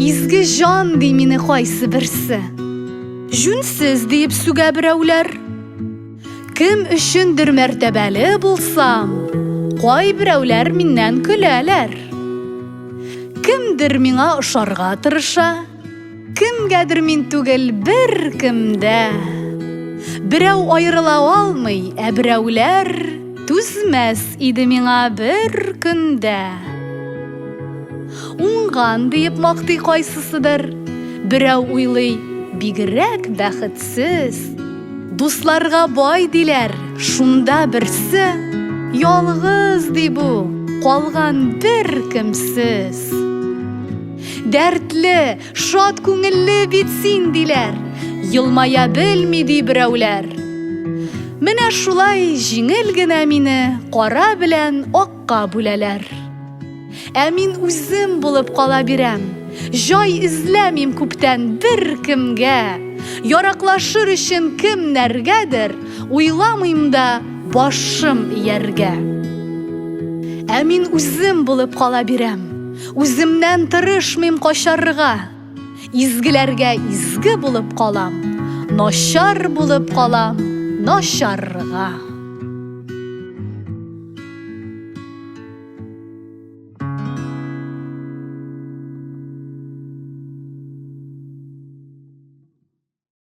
Изге җан ди мине кайсы берсе. Җүнсез диеп сүгә берәүләр. Кем өчендер мәртәбәле булсам, кай берәүләр миннән көләләр. Кемдер миңа ошарга тырыша. Кемгәдер мин түгел, беркемдә. Берәү аерыла алмый, ә берәүләр түзмәс иде миңа бер көндә. Уңган диеп мактый кайсысыдыр, берәү уйлый, бигрәк бәхетсез. Дусларга бай диләр, шунда берсе, ялгыз ди бу, калган бер кемсез. Дәртле, шат күңелле бит син, диләр. Елмая белми ди берәүләр. Менә шулай җиңел генә мине кара белән акка бүләләр. Ә мин үзем булып кала бирәм. Җай эзләмим күптән бер кемгә. Яраклашыр өчен кемнәргәдер, уйламыйм да башым ияргә. Ә мин үзем булып кала бирәм. Үземнән тырышмыйм качарга, Изгеләргә изге булып калам, Начар булып калам, начарга.